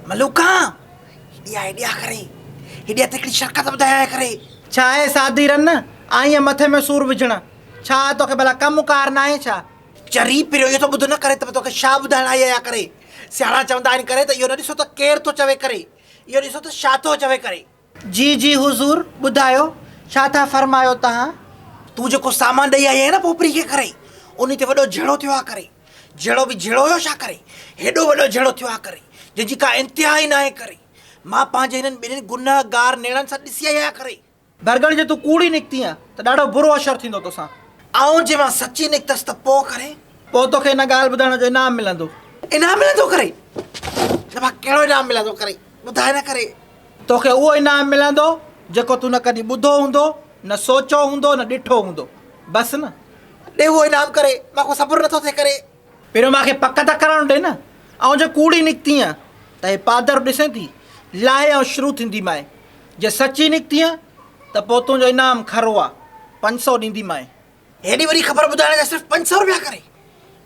ملوڪا! هيڏي آء هيڏي آء ڪري، هيڏي هٿ هڪڙي شرڪت ٻڌايان آء ڪري. ڇا اي سادي رن، آئينء مٿي ۾ سور وجهڻ، ڇا توکي ڀلا ڪم ڪار ناهي ڇا؟ چري پريو اهو ته ٻڌ نه ڪري ته به توکي شاهه ٻڌائڻ آئي آهيان ڪري. سياڻا چوندا آهن ڪري ته اهو نه ڏسو ته ڪير ٿو چوي ڪري، اهو ڏسو ته شاهه ٿو چوي ڪري. جي جي حضور، ٻڌايو ڇا ٿا فرمايو توهان؟ تون جيڪو سامان ڏئي آئي آهين نه پوپري کي ڪري انهي تي وڏو جهيڙو ٿيو آ ڪري جهيڙو به جهيڙو هيو ڇا ڪري هيڏو وڏو جهيڙو ٿيو آ ڪري جنهن جي ڪا انتها ئي ناهي ڪري مان پنهنجي هنن ٻنهين گنهه گار نيڻن سان ڏسي آئي آهيان ڪري. برگڻ جي تون ڪوڙي نڪتين آ ته ڏاڍو برو حشر ٿيندو توسان. آئون جي مان سچي نڪتس ته پو ڪري. پو توکي ان ڳالهه ٻڌائڻ جو انعام ملندو. انعام ملندو ڪري؟ نه ڀا ڪهڙو انعام ملندو ڪري. ٻڌائي نه ڪري. توکي اهو انعام ملندو جيڪو تون نه ڪڏهن ٻڌو هوندو، نه سوچيو هوندو، نه ڏٺو هوندو. بس نه. ڏي اهو انعام ڪري، مان کان صبر نٿو ٿئي ڪري. پهريون مان کي پڪ ته ڪرڻ ڏي نه. آئون جي ڪوڙي نڪتينء ته هي پادر ڏسين ٿي، لاهي آئون شروع ٿينديمانء. جي سچي نڪتينء ته پوء تنهنجو انعام کهرو آ، پنج سئو ڏينديمانء. هيڏي وڏي خبر ٻڌائڻ جا صرف پنج سؤ روپيا ڪري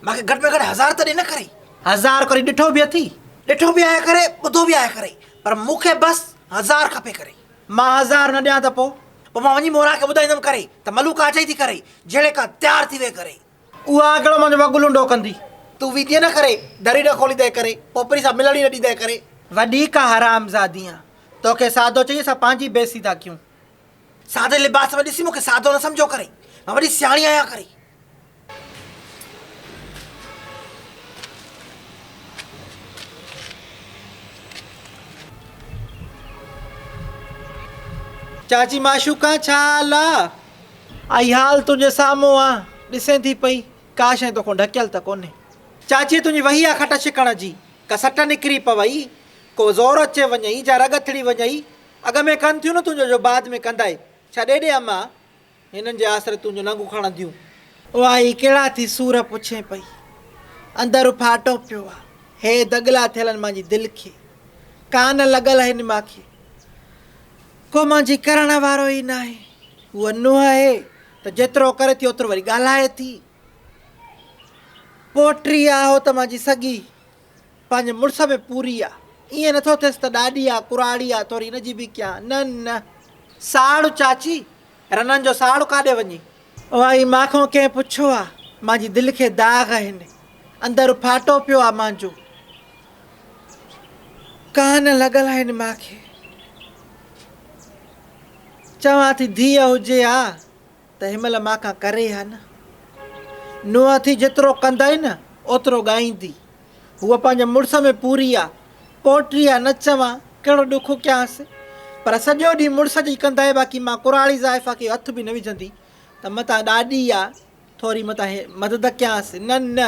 مان کي گهٽ ۾ گهٽ هزار ته ڏي نه ڪري. هزار ڪري ڏٺو به اٿي ڏٺو به آهي ڪري ٻڌو به آهي ڪري پر مون کي بس هزار کپي ڪري. مان هزار نه ڏيان ته پو؟ پو مان وڃي موران کي ٻڌائيندم ڪري ته ملوڪ اچي ٿي ڪري جهڙي ڪا تيار ٿي ويهه ڪري. اها ڪهڙو منهنجو وڳو لنڊو ڪندي. تون ويندينء نه ڪري در ئي نه کوليندينء ڪري پوپري سان ملڻ ئي نه ڏيندينء ڪري. وڏي ڪا حرامزادي آن توکي سادو چئي اسان پنهنجي بي سيدا ڪيون. سادي لباس ۾ ڏسي مون کي سادو نه سمجهو ڪري. مان وڏي سياڻي آهيان ڪري. چاچي معشوقا ڇا حال آ؟ اهي حال تنهنجي سامهون آ. ڏسين ٿي پئي. ڪا شيء توکان ڍڪيل ته ڪونهي. چاچي تنهنجي وهي آ کٽ ڇڪڻ جي. ڪا سٽ نڪري پوي. ڪو زور اچي وڃئي جا رڳ اٿڙي وڃئي. اڳ ۾ ڪن ٿيون نه تنهنجو جو بعد ۾ ڪندائي ڇا ڏيڏي اما هنن جي آسري تنهنجو ننگ اکاڻنديون. اها هي ڪهڙا ٿي سور پڇين پئي اندر اڦاٽو پيو آ هي دڳلا ٿيلن مانجي دل کي ڪان لڳل هن مان کي ڪو مانجي ڪرڻ وارو ئي ناهي هوء نوح هي ته جيترو ڪري ٿي اوترو وري ڳالهائي ٿي پوٽري آ هوء ته مانجي سڳي پنهنجي مڙس ۾ پوري آ. ائين نٿو ٿئيس ته ڏاڏي آ، ڪراڙي آ، ٿوري ان جي به ڪيان. نه نه. ساڙ چاچي، رنن جو ساڙ ڪاڏي وڃي؟ اوهائي مان کان ڪنهن پڇيو آ؟ مانجي دل کي داغ آهن. اندر ڦاٽو پيو آ مانجو. ڪان لڳل آهن مان کي. چوان ٿي ڌيء هجي ها. تنهن مهل مان کان ڪري ها نه. نوح ٿي جيترو ڪندائي نه اوترو ڳائيندي. هوء پنهنجي مڙس ۾ پوري آ. پوئٽري آ نه چوان، ڪهڙو ڏک ڪيانس. پر سڄو ڏينهن مڙس جي ڪندائي باقي مان ڪراڙي زائفا کي هٿ به نه وجهندي ته متان ڏاڏي آ ٿوري متان مدد ڪيانس. نه نه.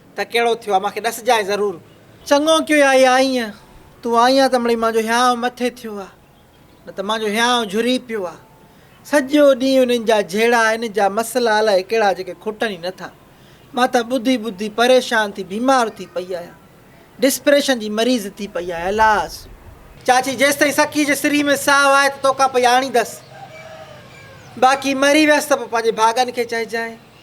ته ڪهڙو ٿيو آ، مان کي ڏسجانء ضرور. چڱو ڪيو آء آئينء، تون آئين آ ته مڙئي مان جو هيانء مٿي ٿيو آ، نه ته مان جو هيانء جهري پيو آ. سڄو ڏينهن انهن جا جهيڙا، انهن جا مسئلا الائي ڪهڙا جيڪي کٽن ئي نٿا. مان ته ٻڌي ٻڌي پريشان ٿي بيمار ٿي پئي آهيان. ڊسپريشن جي مريض ٿي پئي آهيان. الاس! چاچي جيستائين سکي جي سري ۾ ساهه آهي ته توکان پئي آڻيندس. باقي مري ويس ته پوء پنهنجي ڀاڳن کي چئجانء.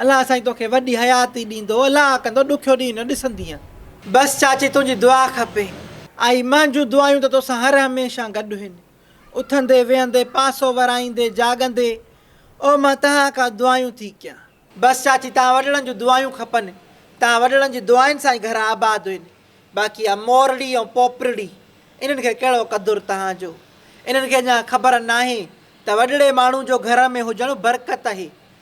الله سائين توکي وڏي حياتي ڏيندو الله ڪندو ڏکيو ڏينهن نه ڏسندينء. بس چاچي تنهنجي دعا کپي. آئي مان جون دعايون ته توسان هر هميشه گڏ هن اٿندي ويهندي پاسو ورائيندي جاڳندي او مان تهان کان دعايون ٿي ڪيان. بس چاچي تهان وڏڙن جون دعايون کپن تهان وڏڙن جي دعائن سان ئي گهر آباد هن باقي آ مورڙي ۽ پوپرڙي انهن کي ڪهڙو قدر تهان جو انهن کي اڃان خبر ناهي ته وڏڙي ماڻهو جو گهر ۾ هجڻ برڪت اهي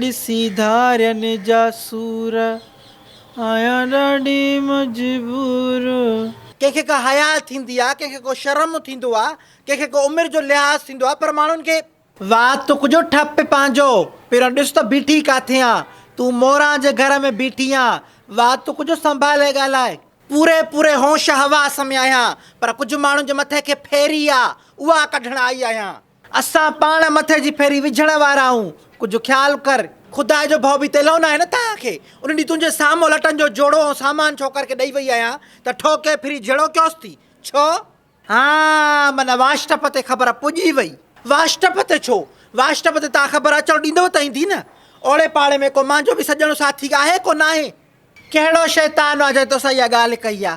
ڏسي ڌارين جا سور، آهيان ڏاڍي مجبور. ڪنهن کي ڪا حياء ٿيندي آ، ڪنهن کي ڪو شرم ٿيندو آ، ڪنهن کي ڪو عمر جو لحاظ ٿيندو آ، پر ماڻهن کي. وات تون ڪجو ٺپ پنهنجو، پهريون ڏس ته بيٺي ڪاٿي آن، تون موران جي گهر ۾ بيٺي آن، وات تون ڪجو سنڀالي ڳالهاء. پوري پوري هوش حواس ۾ آهيان، پر ڪجهه ماڻهن جي مٿي کي ڦيري آ، اها ڪڍڻ آئي آهيان. اسان پاڻ مٿي جي ڦيري وجهڻ وارا آهون. ڪجهه خيال ڪر. خدا جو ڀؤ به تيلهو ناهي نه توهان کي. ان ڏينهن تنهنجي سامو لٽن جو جوڙو ۽ سامان ڇوڪر کي ڏئي وئي آهيان ته ٺوڪي ڦري جهيڙو ڪيوس ٿي. ڇو؟ ها، من واشٽپ تي خبر پڄي وئي. واشٽپ تي ڇو؟ واشٽپ تي توهان خبر اچڻ ڏيندؤ ته ايندي نه. اوڙي پاڙي ۾ ڪو مانجهو به سڄڻ ساٿي آهي ڪو ناهي. ڪهڙو شيطان آ جنهن توسان اها ڳالهه ڪئي آ؟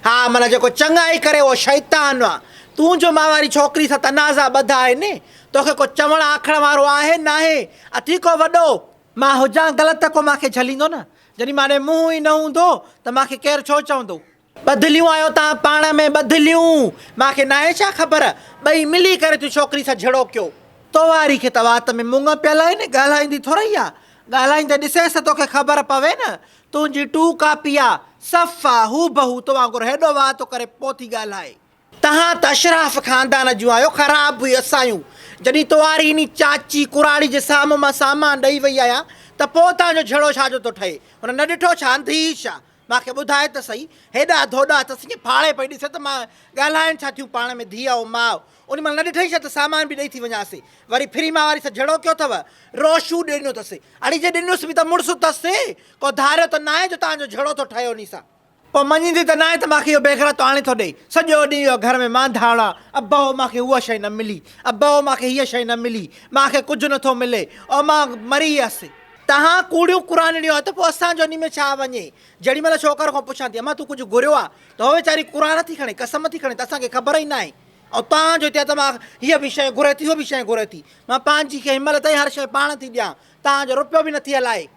ها معنيٰ جيڪو چڱائي ڪري اهو شيطان آ. تون جو مان واري ڇوڪري سان تنازعا ٻڌا آهن، توکي ڪو چوڻ آکڻ وارو آهي ناهي، اٿي ڪو وڏو. مان هجان غلط ته ڪو مان کي جهليندو نه، جڏهن مان ڏي منهن ئي نه هوندو ته مان کي ڪير ڇو چوندو؟ ٻڌليون آهيو توهان پاڻ ۾ ٻڌليون مان کي ناهي ڇا خبر ٻئي ملي ڪري ٿيون ڇوڪري سان جھڙوڪيو. تو واري کي ته وات ۾ مڱ پيل آهن ڳالهائيندي ٿورئي آ ڳالهائين ته ڏسيس ته توکي خبر پوي نه تنهنجي ٽو ڪاپي آ صفا هوبهو تو وانگر هيڏو واه ٿو ڪري پو ٿي ڳالهائي. توهان ته اشراف خاندان جون آهيو خراب به اسايون جڏهين تو واري انهي چاچي ڪراڙي جي سامهون مان سامان ڏئي وئي آهيان ته پو توهان جو جھڙو ڇا جو ٿو ٺهي هن نه ڏٺو ڇا انڌي ڇا مان کي ٻڌاء ته سهي، هيڏا ڌوڏا اٿس ائين ڦاڙي پئي ڏسي ته مان ڳالهائين ڇا ٿيون پاڻ ۾ ڌيء ۽ ماء. ان مهل نه ڏٺئي ڇا ته سامان به ڏئي ٿي وڃانس. وري ڦري مان واري سان جهيڙو ڪيو اٿئو. روشو ڏنو اٿس. اڙي جي ڏنس به ته مڙس اٿس. ڪو ڌاريو ته ناهي جو تانجو جهيڙو ٿو ٺهي انهي سان. پوء مڃيندي ته ناهي ته مان کي اهو بيغرتو آڻي ٿو ڏئي. سڄو ڏينهن اهو گهر ۾ مانڌاڻا. ابهو مان کي هوء شيء نه ملي. ابهو مان کي هيء شيء نه ملي. مان کي ڪجهه نه ٿو ملي. او مان مري ويس. تهان ڪوڙيون قرآنڙيون آهيو ته پوء اسان جو انهي ۾ ڇا وڃي؟ جهڙي مهل ڇوڪر کان پڇان ٿي امان تون ڪجهه گهريو آهي ته هوء ويچاري قرآن ٿي کڻي قسم ٿي کڻي ته اسان کي خبر ئي ناهي ۽ توهان جو چئه ته مان هيء به شيء گهري ٿي هوء به شيء گهري ٿي مان پنهنجي کي هن مهل تائين هر شيء پاڻ ٿي ڏيان توهان جو رپيو به نٿي هلائي.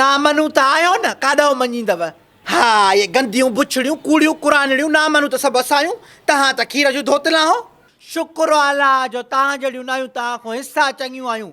نامنون ته آهيو نه ڪاڏانهن مڃيندؤ؟ ها اهي گنديون بڇڙيون ڪوڙيون قرآنڙيون نامنون ته سڀ اسانيون تهان ته کير جون ڌوتل آهو. شڪر آلله جو توهان جهڙيون ناهيون توهان کان حصا چڱيون آهيون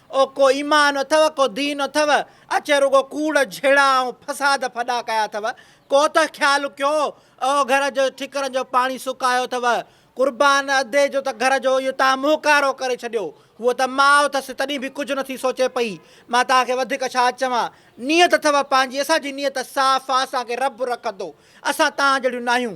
او ڪو ايمان اٿو ڪو دين اٿو اچي رڳو ڪوڙ جھيڙا ۽ فساد ڦڏا ڪيا اٿو ڪو ته خيال ڪيو او گھر جو ٺڪرن جو پاڻي سڪايو اٿو قربان ادي جو ته گھر جو اهو تان مهڪارو ڪري ڇڏيو هوء ته ماء اٿس تڏهن به ڪجھ نٿي سوچي پئي مان تان کي وڌيڪ ڇا چوان نيت اٿو پنهنجي اسان جي نيت صاف آ اسان کي رب رکندو اسان تان جهڙيون ناهيون.